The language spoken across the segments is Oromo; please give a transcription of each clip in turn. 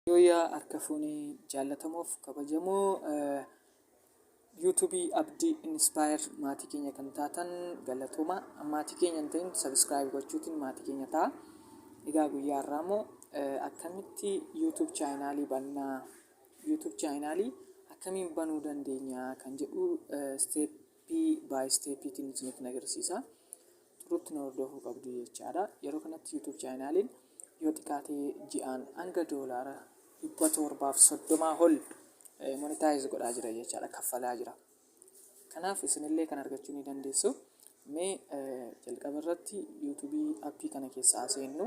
Yooyaa harka fuune jaallatamoof kabajamoo YouTube Abdi Inspire maatii keenya kan taatan galatooma maatii keenya hin ta'in subscribe gochuutiin maatii keenya ta'a. Egaa guyyaa har'aa immoo akkamitti YouTube chaayinaalii bannaa YouTube chaayinaalii akkamiin banuu dandeenya kan jedhu steeppii baay steeppiitiin isinitti agarsiisa. turutti nu hordofuu qabdu jechaadha. Yeroo kanatti YouTube chaayinaaliin yoo xiqqaatee ji'aan hanga doolaara dhibba torbaaf soddomaa ol monitaayiz godhaa jira jechaadha kaffalaa jira. Kanaaf isinillee kan argachuu ni dandeessu. Mee jalqaba irratti YouTube appii kana keessaa seennu.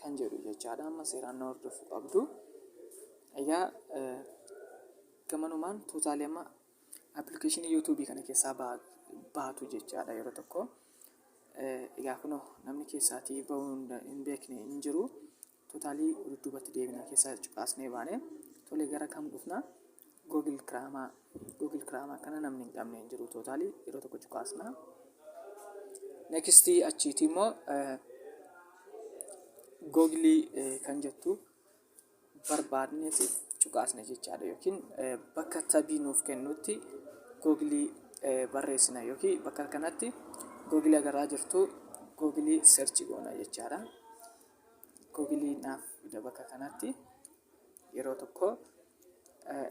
kan jedhu jechaadha amma seeraan na hordofuu qabdu egaa gamanumaan tuutaalee amma appilikeeshinii yuutuubii kana keessaa baatu jechaadha yeroo tokko egaa kunoo namni keessaatii bahuu hin beekne hin jiru tuutaalii dudduubatti deebina keessa cuqaasnee baane tolee gara kam dhufna Google Chrome Google Chrome kana namni hin qabne hin jiru tootaalii yeroo tokko cuqaasna. Next achiiti immoo Google kan jettu barbaadneeti cuqaasna jechaadha yookiin bakka tabii nuuf kennutti Google barreessina yookiin bakka kanatti Google agarraa jirtu Google search goona jechaadha. Google naaf fida bakka kanatti. yeroo tokko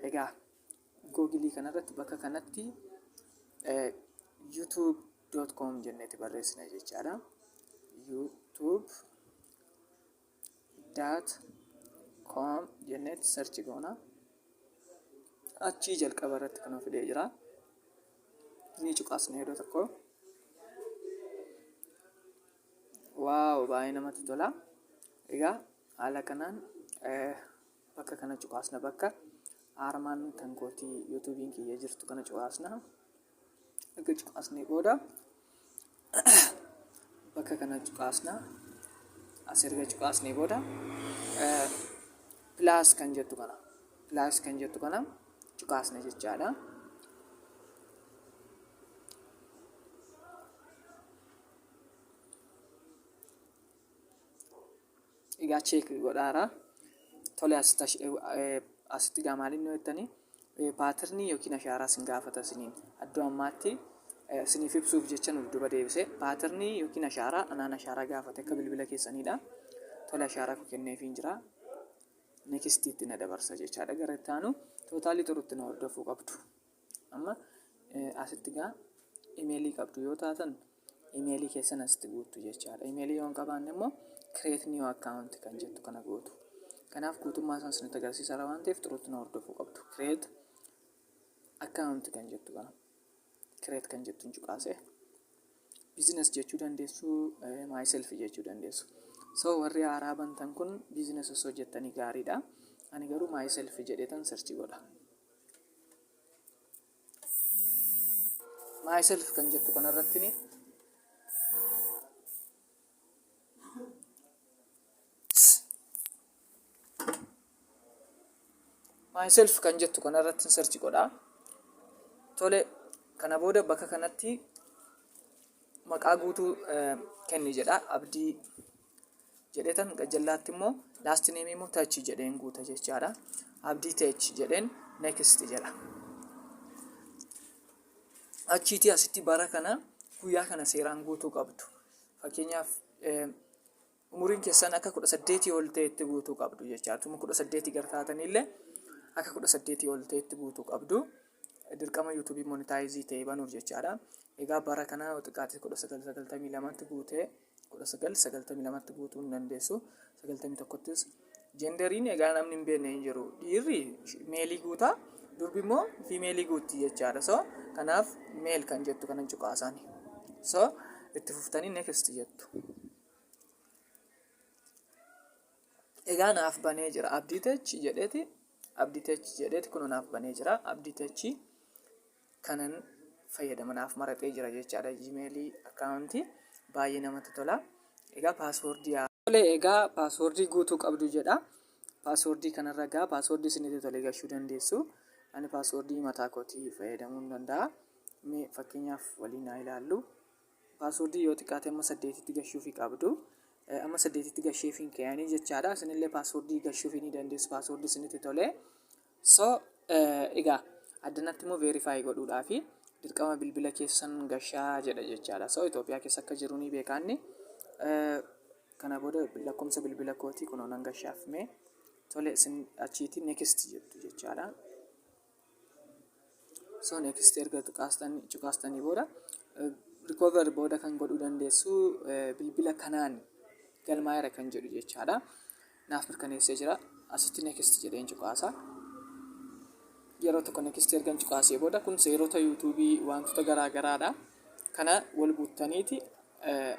egaa googilii kanarratti bakka kanatti youtube.com jenneeti barreessina jechaadha. youtube daat koom jenneeti sarchi goona achii jalqaba irratti kan fidee jira ni cuqaasna yeroo tokko waaw baay'ee namatti tola egaa Haala kanaan bakka kana cuqaasna bakka aarmaan kan kootii yuutuubiin kiyya jirtu kana cuqaasna erga cuqaasnee booda bakka kana cuqaasna as erga cuqaasnee booda pilaas kan jettu kana pilaas kan jettu kana cuqaasna jechaadha. Egaa check godhaara. Tole asitti ash- eh, eh, asitti gaa maaliin nu jettanii eh, paatirnii yookiin ashaaraa sin gaafata isiniin addoo ammaatti eh, isiniif ibsuuf jecha nuuf duba deebise paatirnii yookiin ashaaraa anaan ashaaraa gaafate akka bilbila keessaniidha. Tole ashaaraa koo kenneefiin jira. Nekistiitti na dabarsa jechaadha gara itti aanu tootaalii turutti na hordofuu qabdu. Amma asitti gaa imeelii qabdu yoo taatan imeelii keessan asitti guuttu jechaadha. Imeelii yoo hin qabaanne immoo create new account kan jettu kana gootu. Kanaaf guutummaa isaan isinitti agarsiisaara waan ta'eef turuutti na hordofuu qabdu. Create account kan jettu kana create kan jettu hin cuqaasee. Business jechuu dandeessu, eh, myself jechuu dandeessu. So warri haaraa bantan kun business osoo jettanii gaariidha. Ani garuu myself jedheetan search godha. myself kan jettu kanarratti ni myself kan jettu kanarratti search godha tole kana booda bakka kanatti maqaa guutuu eh, kenni jedha abdii jedheetan gajjallaatti immoo last name immoo touch jedheen guuta jechaadha. Abdii touch jedheen next jedha. Achiitii asitti bara kana guyyaa kana seeraan guutuu qabdu. Fakkeenyaaf umuriin keessan akka kudha saddeetii ol ta'etti guutuu qabdu jechaadha. Tuma kudha saddeetii gara taatanillee akka kudha saddeetii ol ta'etti guutuu qabdu. Dirqama yuutuubii monitaayizii ta'e banuuf jechaadha. Egaa bara kana xiqqaatti kudha sagal sagaltamii lamatti guutee kudha sagal sagaltamii lamatti guutuu hin dandeessu sagaltamii tokkottis jenderiin egaa namni hin beekne hin jiru dhiirri meelii guutaa durbi immoo fiimeelii guutti jechaadha so kanaaf meel kan jettu kanan cuqaasaani so itti fuftanii next jettu egaa naaf banee jira abdiitechi jedheeti abdiitechi jedheeti kun naaf banee jira abdiitechi kanan fayyadama naaf maraxee jira jechaadha gmail account baay'ee namatti tola egaa paaswoordii tole egaa paaswoordii guutuu qabdu jedha paaswoordii kanarra egaa paaswoordii isinitti tole gachuu dandeessu ani paaswoordii mataa kootii fayyadamuu hin danda'a mee fakkeenyaaf waliin haa ilaallu Password yoo xiqqaate amma saddeetitti gashuufi qabdu. Amma saddeetitti gasheefiin keeyanii jechaadha. Isinillee password gashuufi ni dandeessu password isinitti tolee. So egaa addanatti immoo verify godhuudhaafi dirqama bilbila keessan gashaa jedha jechaadha. So Itoophiyaa keessa akka jiru ni beekaanni. Kana booda lakkoofsa bilbila kootii kunoo nan gashaaf mee tole isin achiitii next jettu jechaadha. so next erga cuqaastanii cuqaastanii booda recover booda kan godhuu dandeessu eh, bilbila kanaan galmaa'eera kan jedhu jechaadha naaf mirkaneessee jira asitti next jedheen cuqaasa yeroo tokko next ergan cuqaasee booda kun seerota yuutuubii wantoota garaa garaadha kana wal guuttaniiti eh,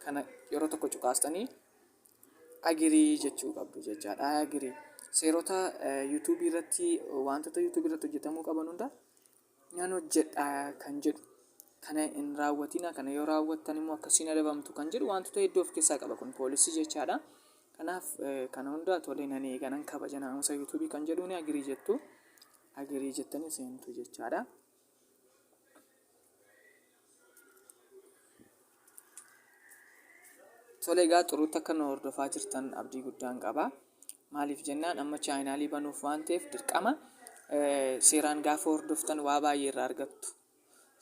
kana yeroo tokko cuqaastanii agree jechuu qabdu jechaadha. I agree. Seerota eh, YouTube irratti wantoota YouTube irratti hojjetamuu qaban hunda nan hojjedha kan jedhu kana hin raawwatina kana yoo raawwattan immoo akkasiin adabamtu kan jedhu wantoota hedduu of keessaa qaba kun poolisii jechaadha. Kanaaf eh, kana hunda tolee nan eega nan kabaja naamusa YouTube kan jedhuun agree jettu agree jettanii seentu jechaadha. Tole egaa xuruutti akka nu hordofaa jirtan abdii guddaan qaba. Maaliif jennaan amma chaayinaalii banuuf waan ta'eef dirqama seeraan gaafa hordoftan waa baay'ee irraa argattu.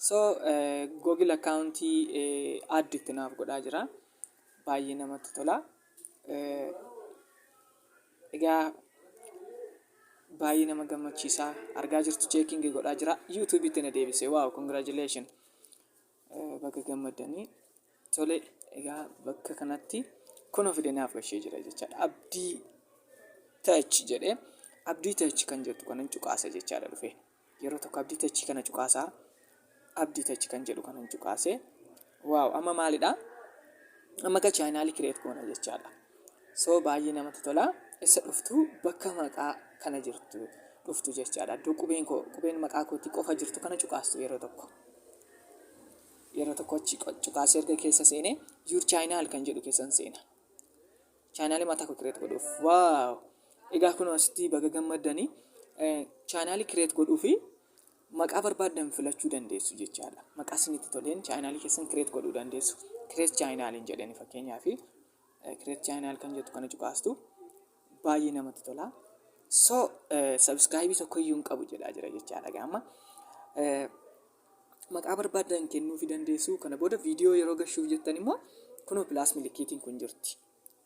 So Google akkaawuntii addi itti naaf godhaa jira. Baay'ee namatti tola. Egaa baay'ee nama gammachiisa argaa jirtu cheekingi godhaa jira yuutuubitti na deebise waaw congratulation Eh, baga gammaddanii tole egaa bakka kanatti kun of denaaf gashee jira jechaadha abdii tach jedhee abdii tach kan jettu kanan cuqaasa jechaadha dhufe Yeroo tokko abdii techii kana cuqaasaa abdii tech kan jedhu kanan cuqaase waaw amma maalidha amma ga chaayinaalii kireet goona jechaadha soo baay'ee namatti tola isa dhuftu bakka maqaa kana jirtu dhuftu jechaadha iddoo qubeen koo qubeen maqaa kootii qofa jirtu kana cuqaastu yeroo tokko yeroo tokko achi cuqaasee erga keessa seene yuur chaayinaal kan jedhu keessan seena chaanaalii mataa koo kireet godhuuf waaw egaa kun asitti baga gammaddanii chaanaalii kireet godhuu fi maqaa barbaaddan filachuu dandeessu jechaadha maqaa isinitti toleen chaanaalii keessan kireet godhuu dandeessu kireet chaanaaliin jedhani fakkeenyaa fi kireet chaanaal kan jettu kana cuqaastu baay'ee namatti tola so sabiskaayibii tokko iyyuu hin qabu jedhaa jira jechaadha gaama maqaa barbaaddan kennuufi dandeessu. Kana booda viidiyoo yeroo gashuuf jettan immoo kunoo pilaas milikkiitiin kun jirti.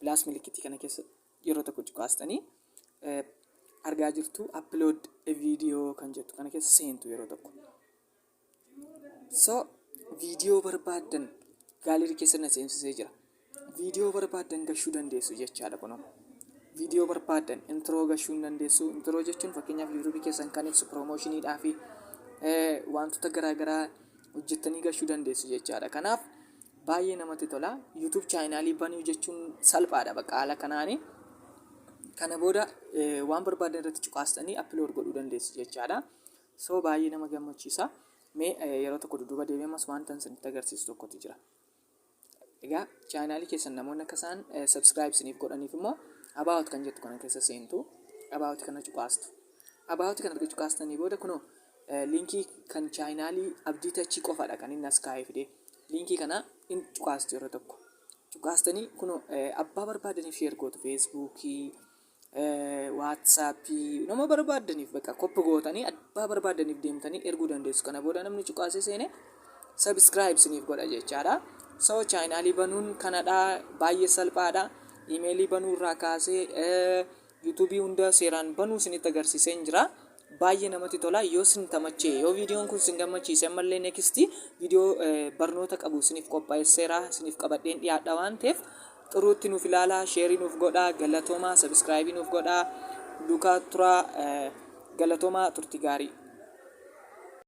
Pilaas milikkiitii kana keessa yeroo tokko cuqaastanii eh, argaa jirtu upload a video kan jettu kana keessa seentu yeroo tokko. So viidiyoo barbaaddan gaalerii keessa na seensisee jira. Viidiyoo barbaaddan gashuu dandeessu jechaadha kunoo. Viidiyoo barbaaddan intiroo gashuu hin dandeessu. Intiroo jechuun fakkeenyaaf yuutuubii keessan kan ibsu piroomoshiniidhaa fi wantoota garaa garaa hojjettanii gashuu dandeessu jechaadha. Kanaaf baay'ee namatti tola. Yuutuub chaayinaalii banuu jechuun salphaadha bakka haala kanaani. Kana booda waan barbaaddan irratti cuqaastanii appilood godhuu dandeessu jechaadha. So baay'ee nama gammachiisa. Mee yeroo tokko dudduuba deebi'amas wanta isinitti agarsiisu tokkotu jira. Egaa chaanaalii keessan namoonni akka isaan subscribe isiniif godhaniif immoo about kan jettu kana keessa seentu about kana cuqaastu. About kana erga cuqaastanii booda kunoo liinkii kan chaanaalii abdii tachii qofadha kan inni as kaa'ee fide. Liinkii kana in cuqaastu yeroo tokko. Cuqaastanii kunoo abbaa barbaadaniif sheer gootu feesbuukii Waatsaapii nama barbaaddaniif bakka koppi gootanii abbaa barbaaddaniif deemtanii erguu dandeessu kana booda namni cuqaasee seene sabiskiraayib isiniif godha jechaadha so chaayinaalii banuun kanadha baay'ee salphaadha imeelii banuu irraa kaasee yuutuubii hunda seeraan banuu isinitti agarsiiseen jira Baay'ee namatti tola yoo sin tamachee yoo viidiyoon kun sin gammachiise ammallee next viidiyoo barnoota qabu isiniif qophaa'esseera isiniif qabadheen dhiyaadha waan ta'eef xuruutti nuuf ilaalaa sheerii nuuf godhaa galatoomaa sabiskiraayibii nuuf godhaa dukaa turaa galatoomaa turtii gaarii.